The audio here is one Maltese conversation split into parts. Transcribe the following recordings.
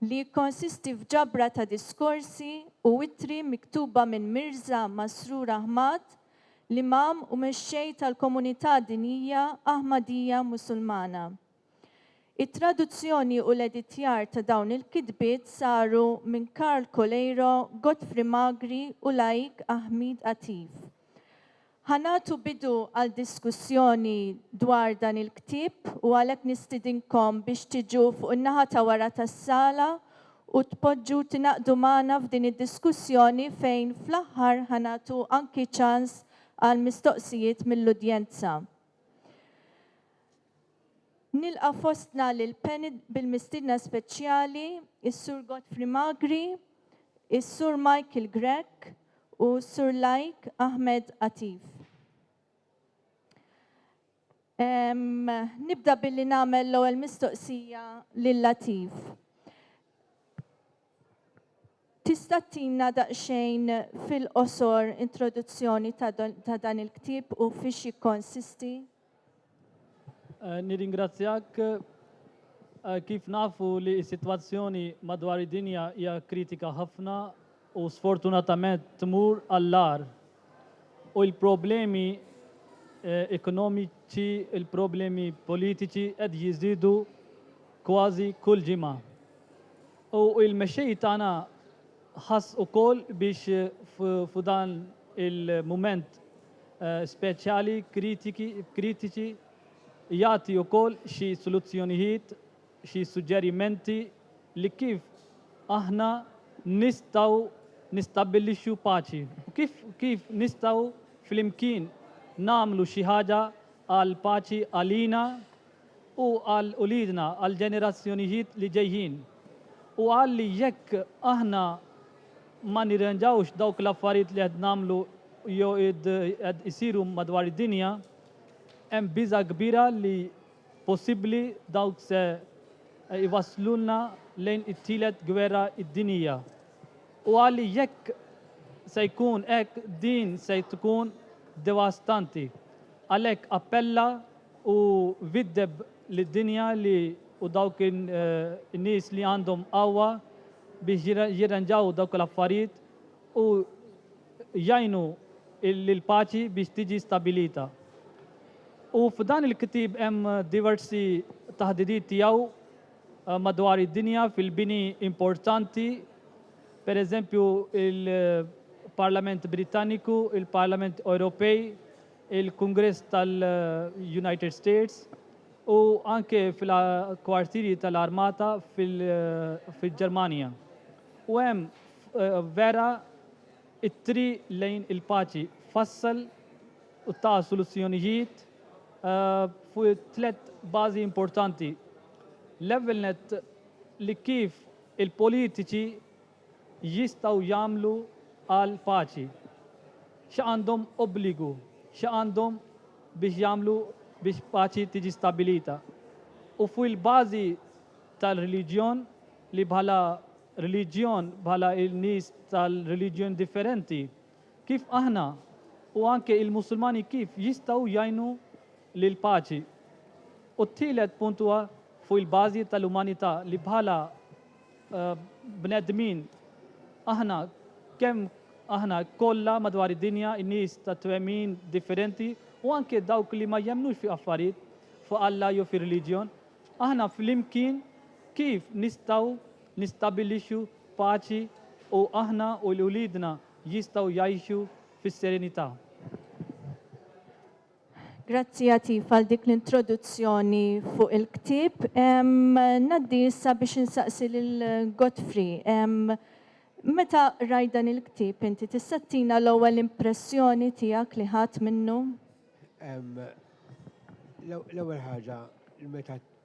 li jikkonsisti f'ġabra ta' diskorsi u ittri miktuba minn Mirża Masrur Ahmad, l-Imam u Mexxej tal-Komunità Dinjija Ahmadija Musulmana. It-traduzzjoni u l-editjar ta' dawn il-kitbiet saru minn Karl Coleiro, Godfrey Magri u Laik Ahmeed Atif. Ħa nagħtu bidu għal diskussjoni dwar dan il-ktieb u għalhekk nistidinkom biex tiġu fuq in-naħa ta' wara tas-sala u tpoġġu tingħaqdu magħna f'din id-diskussjoni fejn fl-aħħar ħa nagħtu anki ċans għal mistoqsijiet mill-udjenza. Nilqa' fostna lil Panel bil-mistiedna speċjali, is-Sur Godfrey Magri, is-Sur Michael Grech u s-Sur Laik Ahmed Atif. Nibda billi nagħmel l-ewwel mistoqsija lil Latif. Tista' ttina daqsxejn fil-qosor introduzzjoni ta' don- ta' dan il-ktieb u fiex jikkonsisti? Eh, Nirringrazzjak. Eh, Kif nafu li s-sitwazzjoni madwar id-dinja hija kritika ħafna u sfortunatament tmur għall-agħar. U l-problemi eh, ekonomiċi, il-problemi politiċi qed jiżdiedu kważi kull ġimgħa. U il-mexxej tagħna ħass ukoll biex fu dan il-mument speċjali kritiki kritiċi jagħti ukoll xi soluzzjonijiet, xi suġġerimenti li kif aħna nistgħu nistabbilixxu paċi. Kif kif nistgħu flimkien nagħmlu xi ħaġa għall-paċi għalina, u għal uliedna, għall-ġenerazzjonijiet li ġejjin. U qal li jekk aħna ma nirranġawx dawk l-affarijiet li qed nagħmlu jew qed isiru madwar id-dinja, hemm biża' kbira li possibbli dawk se jwasslulna lejn it-Tielet Gwerra Dinjija. U qal li jekk se jkun hekk din se tkun devastanti. Għalhekk appella U viddeb lid-dinja li u dawk in-nies li għandhom qawwa biex jirranġaw dawk l-affarijiet u jgħinu lill-paċi biex tiġi stabbilita. U f'dan il-ktieb hemm diversi taħdidiet tiegħu madwar id-dinja fil-bini importanti, pereżempju il-Parlament Brittaniku, il-Parlament Ewropej, il-Kungress tal-United States u anke fil-kwartieri tal-armata fil-Ġermanja. U hemm vera it-triq lejn il-paċi fassal u ta' soluzzjonijiet fuq tliet bażi importanti. L-ewwel nett li kif il-politiċi jistgħu jagħmlu għal paċi, xi għandhom obbligu, xi għandhom biex jagħmlu biex paċi tiġi stabbilita. U fuq il-bażi tal-reliġjon li bħala reliġjon, bħala n-nies tal-reliġjon differenti, kif aħna u anke il-Musulmani kif jistgħu jgħinu lil paċi. U t-tielet punt huwa fuq il-bażi tal-umanità li bħala bnedmin. Aħna kemm aħna kollha madwar id-dinja, in-nies ta' twemmin differenti u anke dawk li ma jemmnux fi affarijiet, fi Alla jew fir-reliġjon, aħna flimkien kif nistgħu nistabbilixxu paċi u aħna u uliedna jistgħu jgħixu fis-serenità? Grazzi Atif għal dik l-introduzzjoni fuq il-ktieb. Ngħaddi issa biex insaqsi lil Godfrey. Meta rajt dan il-ktieb inti tista' ttina l-ewwel impressjoni tiegħek li ħadt minnu? L-ewwel ħaġa meta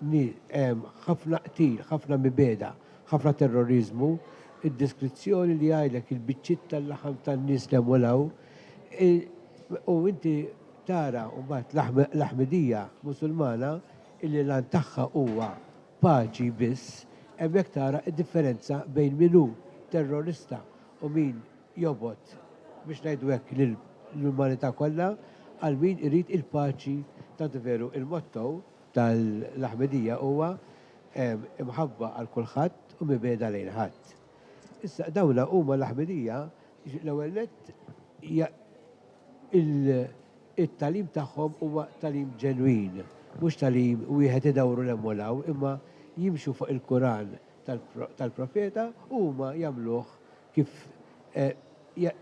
hemm ħafna qtil, ħafna mibegħda, ħafna terroriżmu, id-deskrizzjoni li jgħidlek il-biċċiet tal-laħam tan-nies li hemm u 'l hawn, u inti tara mbagħad l-Aħmedija Musulmana illi l-għan tagħha huwa paċi biss, hemmhekk tara d-differenza bejn min hu terrorista u min jobgħod, biex ngħidu hekk, lill-umanità kollha għal min irid il-paċi, tant veru il-motto, tal-Aħmedija huwa imħabba għal kulħadd u mibgħeda lejn ħadd. Issa dawn huma l-Aħmedija l-ewwel nett it-tagħlim tagħhom huwa tagħlim ġenwin, mhux tagħlim wieħed idawru 'l hemm u 'l hawn imma jimxu fuq il-Kuran tal-Profeta u huma jagħmluh kif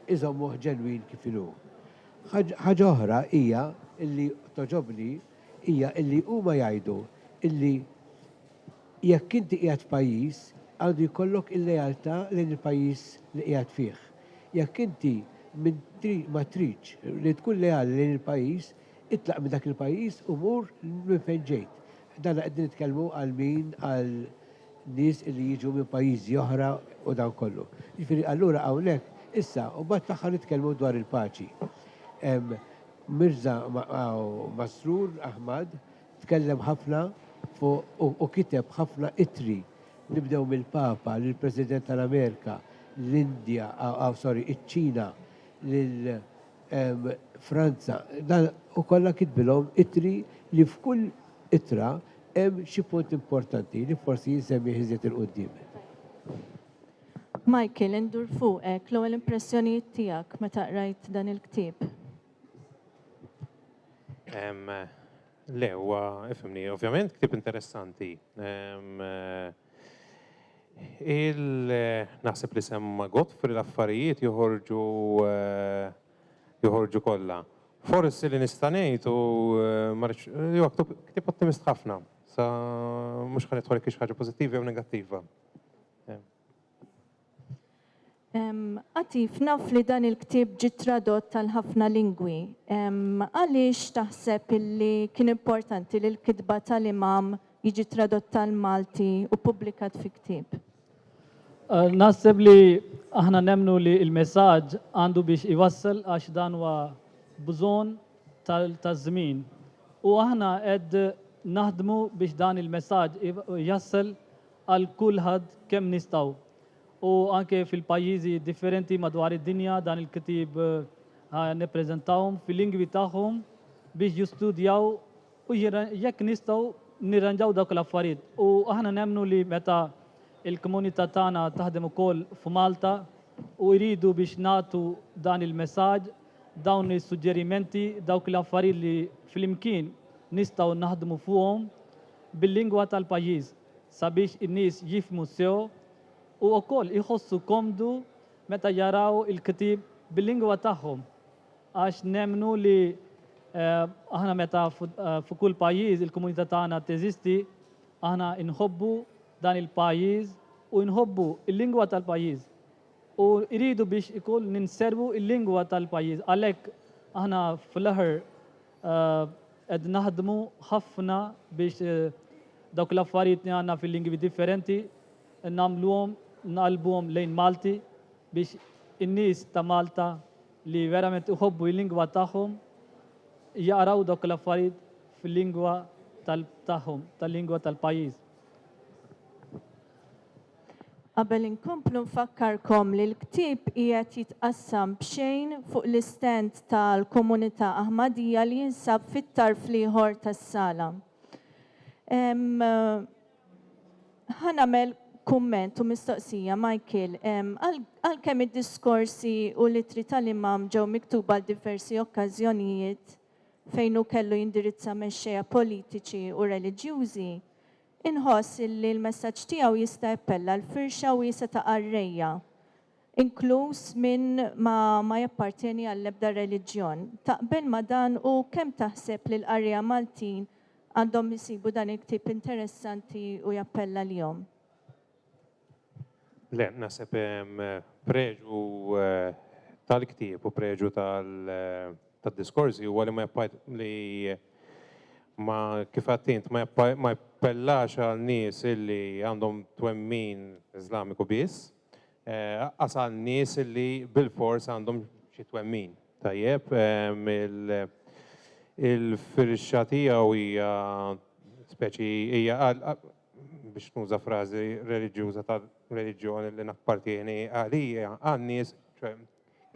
iżommuh ġenwin kif inhu. Ħaġa oħra hija li togħġobni hija li huma jgħidu li jekk inti qiegħed f'pajjiż għandu jkollok il-lealtà lejn il-pajjiż li qiegħed fih. Jekk inti ma tridx li tkun leali lejn il-pajjiż, itlaq minn dak il-pajjiż u mur minn fejn ġejt. Dan qegħdin nitkellmu għal min għal nies li jiġu minn pajjiżi oħra u dan kollu. Jiġifieri allura hawnhekk issa u mbagħad fl-aħħar nitkellmu dwar il-paċi. Mirza Masroor Ahmad tkellem ħafna fuq u kiteb ħafna ittri, nibdew mill-Papa lill-President tal-Amerika, l-Indja, sorry, iċ-Ċina, lil Franza. Dan u kollha kitbilhom ittri li f'kull ittra hemm xi punt importanti li forsi jinsemmih iżjed 'il quddiem. Michael, indur fuqek, l-ewwel impressjonijiet tiegħek meta qrajt dan il-ktieb? Le, huwa ifimni, ovvjament ktieb interessanti. Il-naħseb li semma Godfrey l-affarijiet joħorġu eh, joħorġu kollha. Forsi li nista' ngħid u eh, marx jew ktieb ottimist ħafna. Sa mhux ħan idħol ħaġa pożittiva jew negattiva. Atif, naf li dan il-ktieb ġie tradott għal ħafna lingwi. Għaliex taħseb illi kien importanti li l-kitba tal-Imam jiġi tradott għall-Malti u ppubblikat fi ktieb? Naħseb li aħna nemmnu li l-messaġġ għandu biex iwassal għax dan huwa bżonn taż-żmien. U aħna qed naħdmu biex dan il-messaġġ jasal għal kulħadd kemm nistgħu u anke fil-pajjiżi differenti madwar id-dinja dan il-ktieb ħa nippreżentahom fil-lingwi tagħhom biex jistudjaw u jekk nistgħu nirranġaw dawk l-affarijiet. U aħna nemmnu li meta il-komunità tagħna taħdem ukoll f'Malta u jridu biex nagħtu dan il-messaġġ, dawn is-suġġerimenti, dawk l-affarijiet li flimkien nistgħu naħdmu fuqhom bil-lingwa tal-pajjiż. sabiex in-nies jifhmu sew u wkoll iħossu komdu meta jaraw il-ktieb bil-lingwa tagħhom għax nemmnu li aħna meta fi kull pajjiż il-komunità tagħna teżisti aħna nħobbu dan il-pajjiż u nħobbu l-lingwa tal-pajjiż u rridu biex ikun ninservu l-lingwa tal-pajjiż għalhekk aħna fl-aħħar Qed naħdmu ħafna biex dawk l-affarijiet li għandna fil-lingwi differenti nagħmluhom nqallbuhom lejn Malti biex in-nies ta' Malta li verament iħobbu l-lingwa tagħhom jaqraw dawk l-affarijiet fil-lingwa tagħhom, tal-lingwa tal-pajjiż. Qabel inkomplu nfakkarkom li l-ktieb qiegħed jitqassam b'xejn fuq l-istand tal-Komunità Aħmadija li jinsab fit-tarf l-ieħor tas-sala. Ħa nagħmel kumment u mistoqsija, Michael, għalkemm id-diskorsi u l-ittri tal-Imam ġew miktuba għal diversi okkażjonijiet fejn hu kellu jindirizza mexxejja politiċi u reliġjużi, Inħoss illi l-messaġġ tiegħu jista' jappella għal firxa wiesgħa ta' qarrejja, inkluż min ma ma jappartjeni għall-ebda reliġjon. Taqbel ma' dan u kemm taħseb li l-qarrejja Maltin għandhom isibu dan il-ktieb interessanti u jappella lihom? Le, naħseb hemm preġu tal-ktieb u preġu tad-diskorsi huwa li ma li ma kif għattint ma jappellax għal nies illi għandhom twemmin Iżlamiku biss, aqqas għal nies illi bilfors għandhom xi twemmin. Tajjeb, il-firxa tiegħu hija speċi hija biex nuża frażi reliġjuża tar-reliġjon li nappartjeni għalija, għan-nies, ċoe,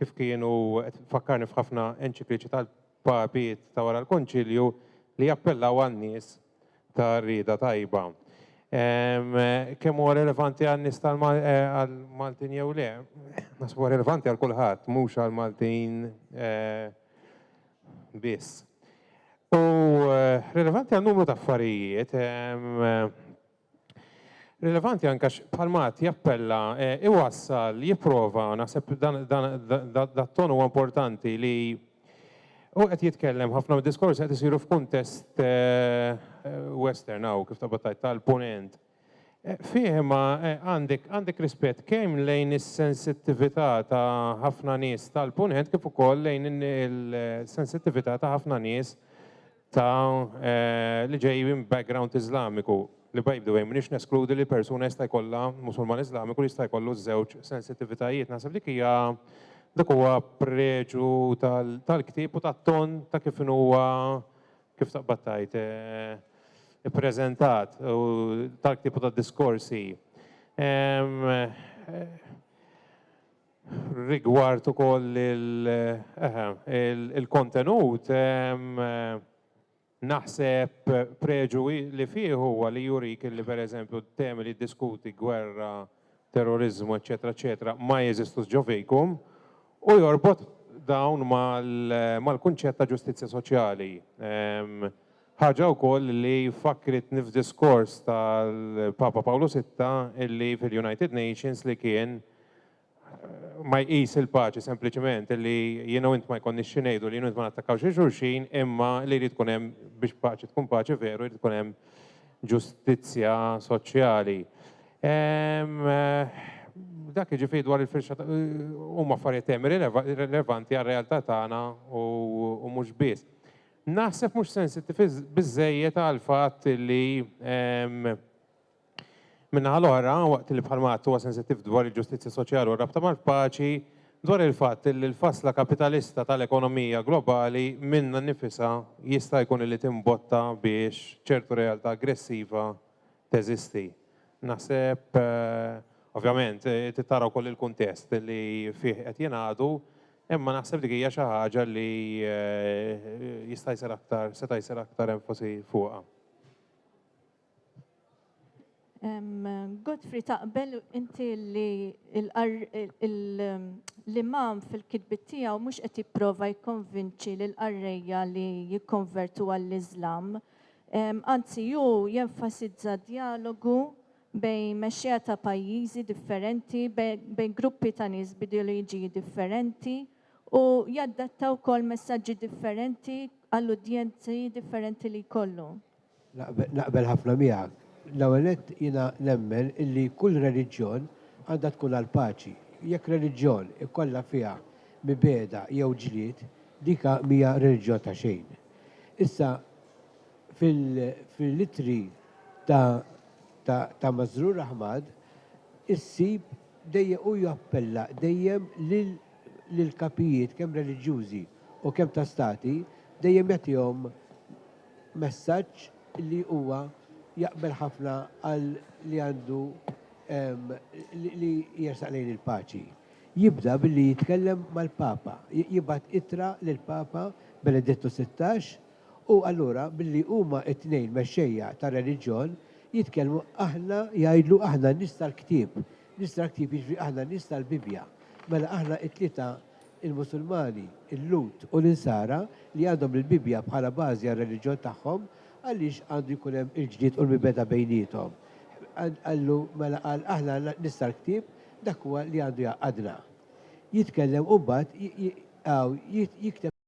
kif kienu, qed tfakkarni f'ħafna enċikliċi tal-papiet ta' wara l-Konċilju li jappellaw għan-nies ta' rieda tajba. Kemm huwa relevanti għan-nies tal, għall-Maltin jew le? Naħseb huwa relevanti għal kulħadd, mhux għall-Maltin, biss. U rilevanti għal numru ta' affarijiet, rilevanti anke għax bħalma għad jappella, iwassal, jipprova, naħseb dan ton huwa importanti li u qed jitkellem ħafna mid-diskorsi qed isiru f'kuntest western hawn kif tabbattajt tal-punent. Fih imma għandek għandek rispett kemm lejn is-sensittività ta' ħafna nies tal-Punent kif ukoll lejn il-sensittività ta' ħafna nies ta' li ġej minn background Iżlamiku. Li by the way m'iniex neskludi li persuna jista' jkollha Musulman Iżlamiku li jista' jkollu ż-żewġ sensittivitajiet. Naħseb dik hija dak huwa preġu tal-ktieb u tat-ton ta' kif inhu huwa Kif taqbad tgħid, ippreżentat u talk tipu ta' diskorsi. Rigward ukoll il-kontenut, naħseb preġu li fih huwa li jurik li pereżempju t-temi li jiddiskuti, gwerra, terroriżmu, eċċetera, eċċetera, ma jeżistux ġo fejkum, u jorbot dawn mal-kunċett ta' ġustizzja soċjali. Ħaġa wkoll li fakkritni f'diskors tal-Papa Pawlu Sitta illi fil-United Nations li kien ma jqis il-paċi sempliċement li jienu int ma jkonni xinejdu li jienu int ma nattakkaw xi xulxin imma li jrid tkun hemm biex paċi tkun paċi veru jrid tkun hemm ġustizzja soċjali. Dak jiġifieri dwar il-firxa huma affarijiet hemm rilevanti għar-realtà tagħna u mhux biss. Naħseb mhux sensittiv biżżejjed għal fatt li min-naħa l-oħra, waqt li bħalma għadt huwa sensittiv dwar il-ġustizzja soċjali u r-rabta mal-paċi, dwar il-fatt li l-fasla kapitalista tal-ekonomija globali minnha nnifisha jista' jkun li timbotta biex ċertu realtà aggressiva teżisti. Naħseb, ovvjament, trid tara wkoll il-kuntest li fih qed jingħadu, imma naħseb dik hija xi ħaġa li jista' jsir aktar, seta' jsir aktar enfasi fuqha. Godfrey, taqbel inti li l-Imam fil-kitbiet tiegħu mhux qed jipprova jikkonvinċi lill-qarrejja li jikkonvertu għall-Iżlam, Anzi, hu jenfasizza djalogu bejn mexxejja ta' pajjiżi differenti, bejn gruppi ta' nies b'ideoloġiji differenti u jaddatta wkoll messaġġi differenti għall-udjenzi differenti li jkollu. Naqbel ħafna miegħek. L-ewwel nett, jiena nemmen illi kull reliġjon għandha tkun għall-paċi. Jekk reliġjon ikollha fiha mibegħda jew ġlied, dik mhija reliġjon ta' xejn. Issa, fil-ittri ta' Masroor Ahmad, issib dejjem hu jappella dejjem lill-kapijiet kemm reliġjużi u kemm ta' stati, dejjem jagħtihom messaġġ li huwa jaqbel ħafna għal li għandu li jersaq lejn il-paċi. Jibda billi jitkellem mal-Papa, jibgħat ittra lill-Papa Benedittu Sittax u allura billi huma t-tnejn mexxejja tar-reliġjon jitkellmu aħna jgħidlu aħna n-nies tal-ktieb, nies tal-ktieb jiġifieri aħna n-nies tal-Bibbja. Mela aħna t-tlieta l-Musulmani, il-Lhud u l-Insara li għandhom il-Bibbja bħala bażi għar-reliġjon tagħhom għaliex għandu jkun hemm il-ġlied u l-mibgħeda bejniethom? Qallu mela qal aħna n-nies tal-ktieb Dak huwa li għandu jgħaqqadna. Jitkellem u mbagħad jibqa' hawn jikteb.